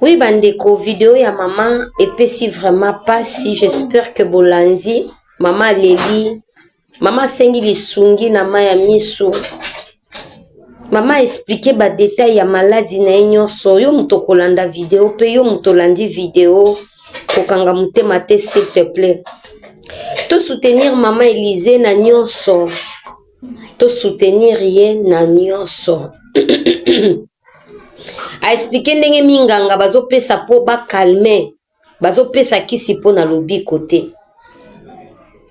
Oui ba ndeko video ya maman epesi vraiment pasi j'espère que bolandi maman aleli maman asengi lisungi na ma ya misu mama explike badetail ya maladi na ye nyonso yo moto okolanda video mpe yo moto olandi video kokanga motema te s'il te plaît tosoutenir mama elize na nyonso tosoutenir ye na nyonso a explique ndenge minganga bazopesa mpo bacalme bazopesa kisi mpo na lobiko te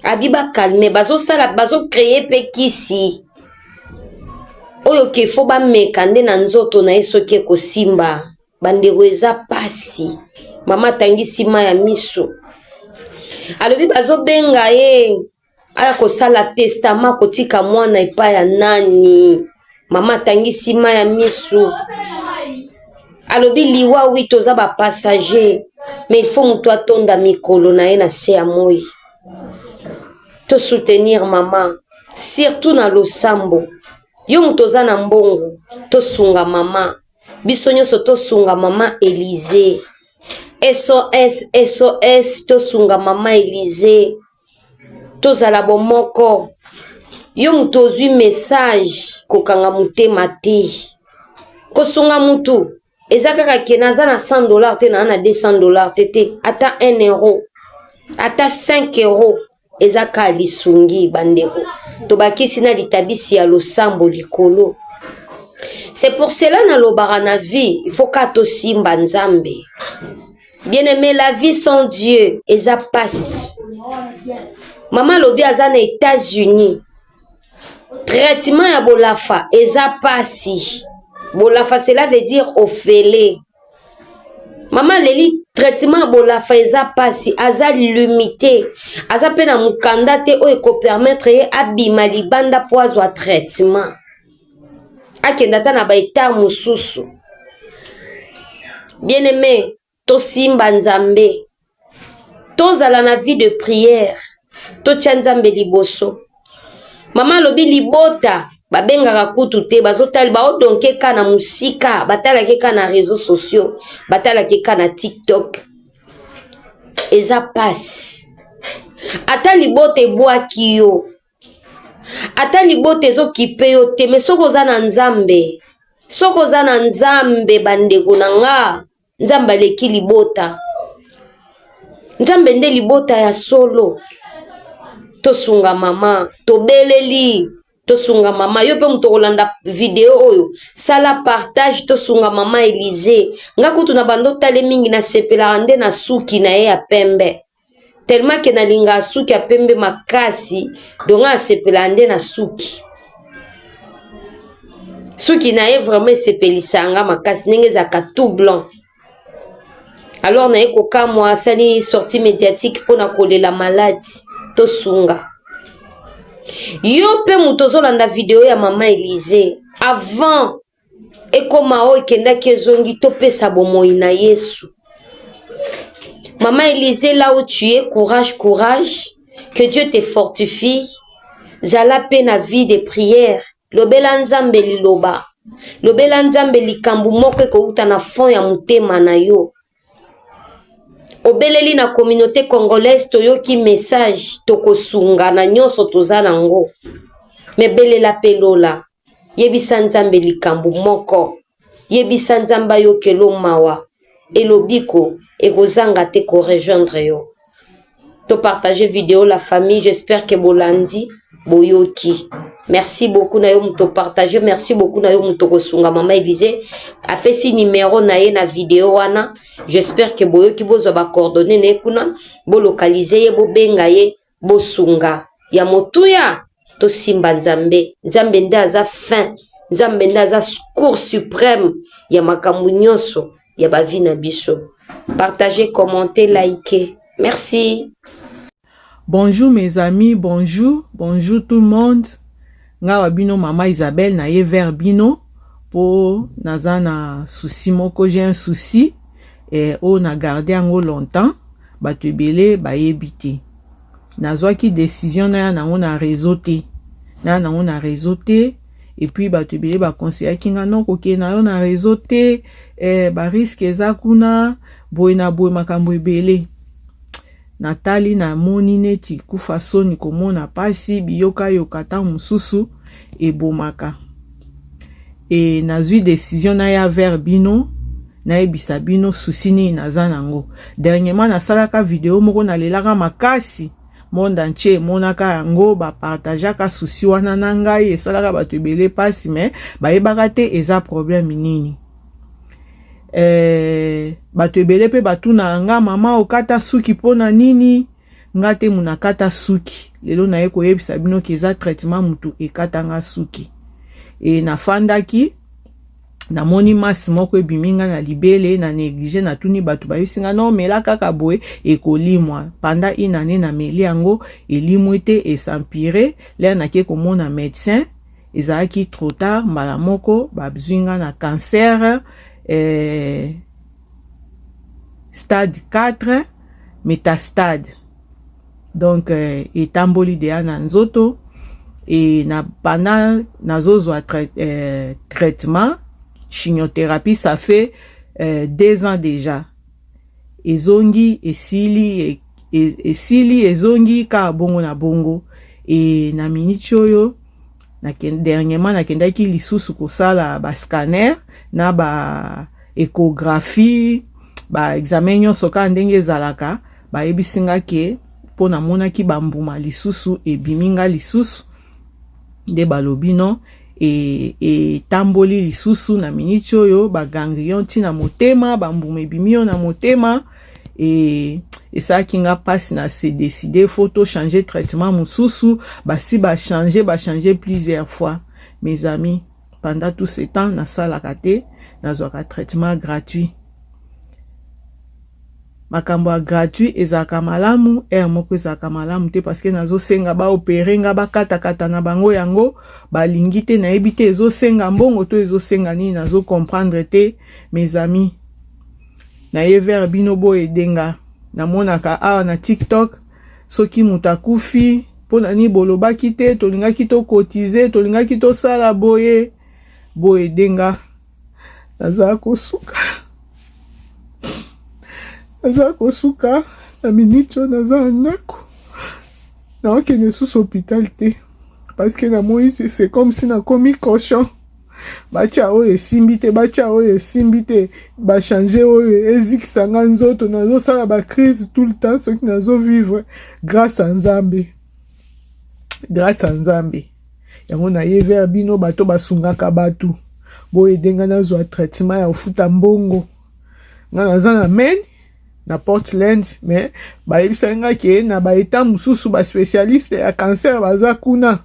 abi bacalme bazosala bazocreye mpe kisi oyo ke fo bameka nde na nzoto na ye soki ekosimba bandeko eza pasi mama atangisi ma ya miso alobi bazobenga ye aya kosala testama kotika mwana epai ya nani mama atangisi ma ya misu alobi liwa wi toza bapassager mais ilfaut moto atonda mikolo na ye na se ya moi tosoutenir mama surtout na losambo yo moto oza na mbongo tosunga mama biso nyonso tosunga mama elize sos sos tosunga mama elize tozala bomoko yo moto ozwi message kokanga motema te kosunga motu eza kaka ke naza na 100 dollar te naa na 200 dollar te te ata 1 euro ata 5 euro eza kaka lisungi bandeko tobakisi na litabisi ya losambo likolo c'est pour cela nalobaka na vie il faut kaka tosimba nzambe Bien aimé, la vie sans Dieu eza pasi. Mama alobi aza na Etats-Unis. Traitement ya bolafa eza pasi. Bolafa cela veut dire ofele. Mama leli traitement ya bolafa eza pasi, aza limite, aza mpe na mokanda te oyo ekopermettre ye abima libanda mpo azwa traitement. akenda ata na ba etat mosusu bien aime tosimba nzambe tozala na vie de prière totya nzambe liboso mama alobi libota babengaka kutu te bazotali baodonke ka na mosika batalaki ka na réseau sociaux batalaki ka na tiktok eza pasi ata libota ebwaki yo ata libota ezokipe yo te me soki oza na nzambe soki oza na nzambe bandeko na nga nzambe aleki libota nzambe nde libota ya solo tosunga mama tobeleli tosunga mama yo mpe moto okolanda video oyo sala partage tosunga mama elize nga kutu na bando tale mingi nasepelaka nde na suki na ye ya pembe tellement que nalingaka suki ya pembe makasi donc nga nasepelaka nde na suki suki na ye vraiment esepelisaka nga makasi ndenge ezalaka tout blanc alors naye kokamwa asali sortie médiatique mpo na kolela maladi tosunga yo mpe moto ozolanda video ya mama elize avant ekoma oyo ekendaki ezongi topesa bomoi na yesu mama elise là où tu es courage courage que dieu te fortifie zala mpe na vie de prière lobela nzambe liloba lobela nzambe likambo moko ekouta na fond ya motema na yo obeleli na communauté congolaise toyoki message tokosunga na nyonso toza na ngo me belela mpe lola yebisa nzambe likambo moko yebisa nzambe ayokelo mawa elobiko ekozanga te korejoindre yo to partage video la famille j'espère que bolandi boyoki merci beaucoup na yo moto partage merci beaucoup na yo moto kosunga mama elise apesi numero na ye na video wana j'espère que boyoki bozwa bacoordonne na ye kuna bolokalize ye bobenga ye bosunga ya motuya tosimba nzambe nzambe nde aza fin nzambe nde aza cour supreme ya makambo nyonso ya ba vie na biso partager commenter liker merci bonjour mes amis bonjour bonjour tout le monde nga wa bino mama Isabelle na ye vers bino po naza na souci moko j'ai un souci eh, oyo na garde yango longtemps bato ebele bayebi te nazwaki decision naya nango na réseau te naya nango na réseau te epuis bato ebele bakonseyaki nga no kokende na yo na réseau te eh, bariske eza kuna boye na boye makambo ebele natali namoni neti kufa soni komona mpasi biyokayoka ntango mosusu ebomaka e nazwi decision naya vers bino nayebisa bino susi nini naza nango dernièrement nasalaka video moko nalelaka makasi monde entier emonaka yango bapartageaka susi wana na ngai esalaka bato ebele mpasi me bayebaka te eza problème nini eh, bato ebele mpe batunaka nga mama okata suki mpo na nini Nga te muna kata suki. Lelo naye koyebisa bino ke eza traitement mutu ekata nga suki. E nafandaki namoni masi moko ebimi nga na libele na neglige natuni bato bayebisi nga no mela kaka boye ekolimwa panda une année nameli yango elimwi te esampire lere nake komona medecin ezalaki trop tard mbala moko babzwi nga na cancer eh, stade 4 metastade donc euh, etamboli deya na nzoto e na banda nazozwa trai, euh, traitement chimiothérapie ça fait euh, deux ans déjà ezongi esili e, e, esili ezongi kaka bongo na bongo e na miniti oyo dernièrement nakendaki lisusu kosala ba scanner na ba échographie ba examen nyonso kaka ndenge ezalaka bayebisi nga ke mpo namonaki bambuma lisusu ebimi nga lisusu nde balobi no etamboli e lisusu na miniti oyo baganglion ntina motema bambuma ebimi yo na motema et esalaki nga mpasi na se décide faut to changer traitement mosusu basi ba changer ba changer plusieurs fois mes amis pendant tout ce temps nasalaka te nazwaka traitement gratuit makambo ya gratuit ezalaka malamu ere moko ezalaka malamu te parceke nazosenga baopere nga bakatakata na bango yango balingi te nayebi te ezosenga mbongo to ezosenga nini nazokomprendre te mes amis na ye vers bino bo aider nga na monaka awa na TikTok soki moto akufi mpo na nini bolobaki te tolingaki tokotize tolingaki tosala boye boye denga naza kosuka naza kosuka na miniti oyo naza na ndako naokende susu hôpital te parce que namoyi c'est comme si nakomi cochon batya oyo esimbi te batya oyo esimbi te bachange oyo ezikisa nga nzoto nazosala bacrise tout le temps soki nazovivre grâce a nzambe grâce a nzambe yango naye vers bino bato basungaka bato boyede nga nazwa traitement ya kofuta mbongo nga naza na maine na Portland mais bayebisaki nga ke na ba etat mosusu ba specialiste ya cancer baza kuna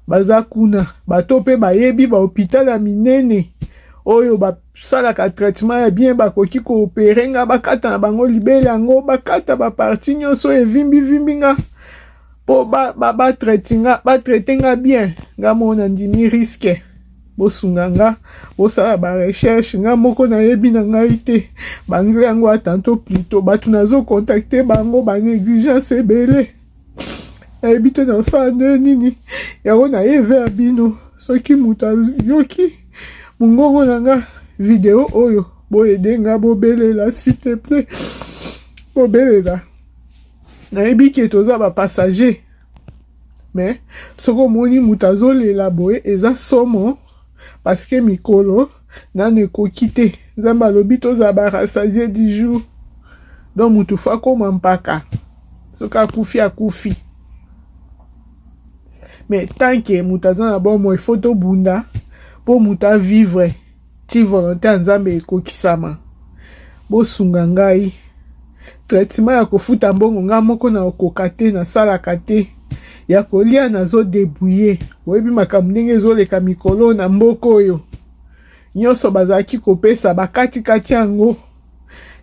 baza kuna bato mpe bayebi ba hôpital ya minene oyo basalaka traitement ya bien bakoki koopere nga bakata na bango libele yango bakata baparti nyonso oyo evimbivimbi nga po ba ba ba traite nga ba traite nga bien nga moko na ndimi risque bosunga nga bosala ba recherche nga moko nayebi na ngai te banglais yango ya tanto plito bato nazo contacte bango banegligence ebele nayebi te nasala nde nini yango naye ver bino soki moto ayoki mongongo na nga video oyo boyede nga bobelela s'il te plaît bobelela nayebi ke toza ba passager me soki omoni moto azolela boye eza somo paske mikolo nano ekoki te nzambe alobi tozala barasasie du jour donc moto fo akoma mpaka soki akufi akufi me tanke moto aza na bomoi fo tobunda mpo moto avivre ti volonte ya nzambe ekokisama bosunga ngai traitement ya kofuta mbongo ngai moko na okoka te nasalaka te ya kolia nazodebouye oyebi makambo ndenge ezoleka mikolo na mboka oyo nyonso bazalaki kopesa bakatikati yango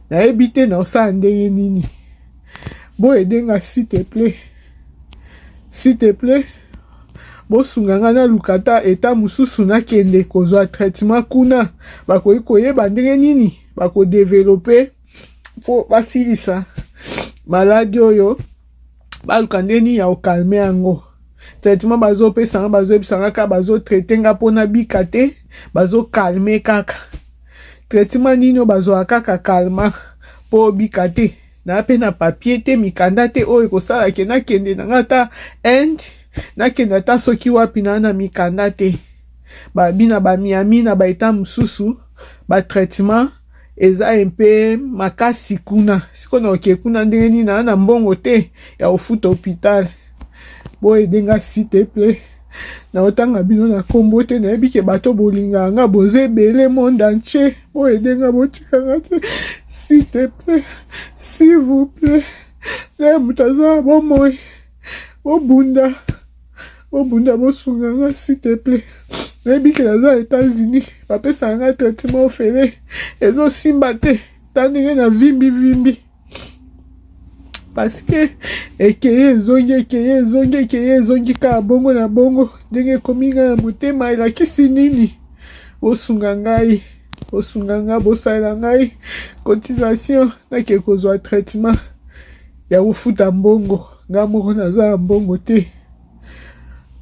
nayebi te naosala ndenge nini boyede nga s'il te plaît s'il te plaît bosunga ngai naluka ata eta mosusu nakende kozwa traitement kuna bakoki koyeba ndenge nini bakodevelope mpo basilisa maladi oyo baluka nde nini ya okalme yango traitement bazopesa nga bazoyebisa nga kaka bazotraite nga mpo nabika te bazokalme kaka traitement nini oyo bazwaka kaka kalma mpo obika te na mpe na papier te mikanda te oyo ekosala ke nakende na nga ata inde nakende ata soki wapi na na mikanda te babina bamiami na baeta mosusu batraitement eza mpe makasi kuna sikoyo na oke kuna ndenge nini na na mbongo te ya kofuta hopital boyede nga site mpe naotanga bino na nkombo te nayebi ke bato bolingaka nga boza ebele monde entier boyede nga botika nga te site mpe s'il vous plaît naye moto aza na bomoi bobunda bobunda bosunga nga s'il te plaît nayebi ke naza états-unis bapesaka nga traitement ofele ezosimba te ta ndenge na vimbi vimbi parce que ekeye ezongi ekeye ezongi ekeye ezongi kaka bongo na bongo ndenge ekomi nga na motema elakisi nini bosunga ngai bosunga nga bosalela ngai cotisation nake kozwa traitement ya kofuta mbongo nga moko naza na mbongo te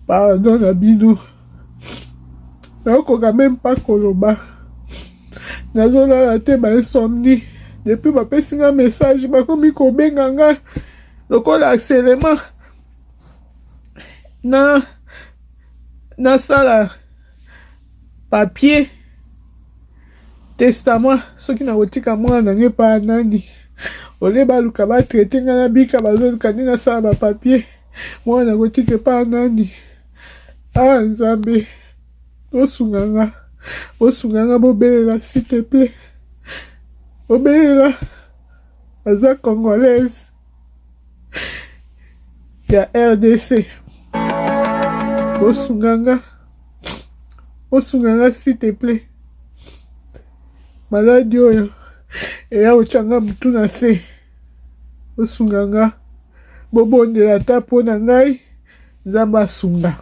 pardon na bino nakokoka meme pa koloba nazolala te ba insomnie depuis bapesi nga message bakomi kobenga nga lokola aselema na nasala papier testament soki nakotika mwana na ngai epa nani ole baluka batraite ngai na bika bazoluka nde nasala bapapier mwana nakotika epa nani a ah, nzambe bosunga nga bosunga nga bobelela s'il te plaît bobelela aza congolaise ya rdc bosunga nga bosunga nga s'il te plaît maladi oyo eya kotyanga motu na se bosunga nga bobondela ata mpo na ngai nzambe asunga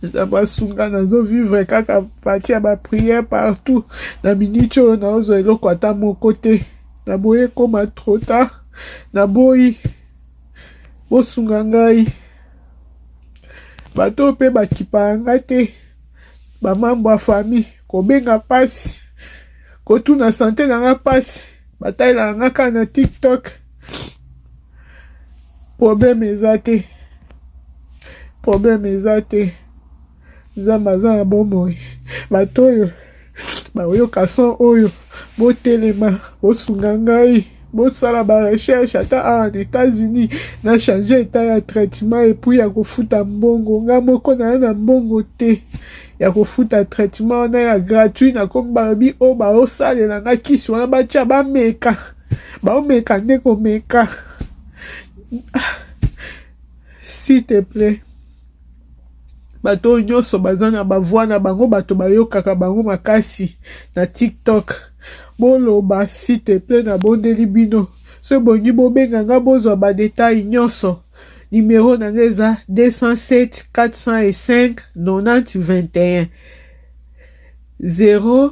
nzambe asunga nazovivre kaka pati ya bapriere partout na miniti oyo naozwa eloko ata moko te naboyi ekoma trop tard naboyi bosunga ngai bato oyo mpe bakipaka ngai te bamambo ya famille kobenga mpasi kotuna sante na ngai mpasi batalelaka ngai kaka na tiktok problème eza te problème eza te nzambe aza na bomoi bato oyo baoyoka son oyo botelema bosunga ngai bosala barecherche ata awa na états-unis na change etat ya traitement epuis ya kofuta mbongo nga moko naa na mbongo te ya kofuta traitement wana ya gratuit nakomi balobi oyo baosalela nga kisi wana batya bameka baomeka nde komeka s'il te plaît bato oyo nyonso baza na bavoi na bango bato bayokaka bango makasi na tiktok boloba s'il te plaît nabondeli bino so ebongi bobenga nga bozwa badetail nyonso nimero na nga eza 207 405 90 21 0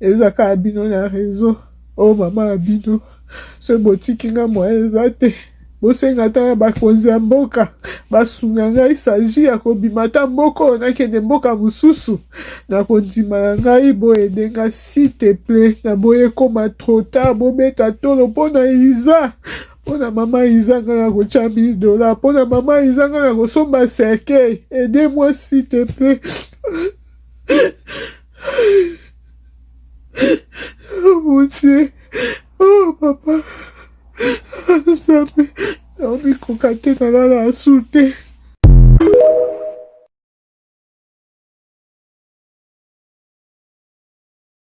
Eza kaka bino na raison oh maman na bino soki botiki nga moyen eza te bosenga ata na bakonzi ya mboka basunga ngai saji ya kobima ata mboka oyo nakende mboka mosusu na kondima na ngai boyede ngai site ple na boye ekoma trotard bobeta tolo mpo na iza mpo na mama iza ngai na kotya mil dola mpo na mama iza ngai na kosomba cercueil ede moi site ple Mon Dieu. Oh, papa. Nzambe. Naomi koka te nalala asu te.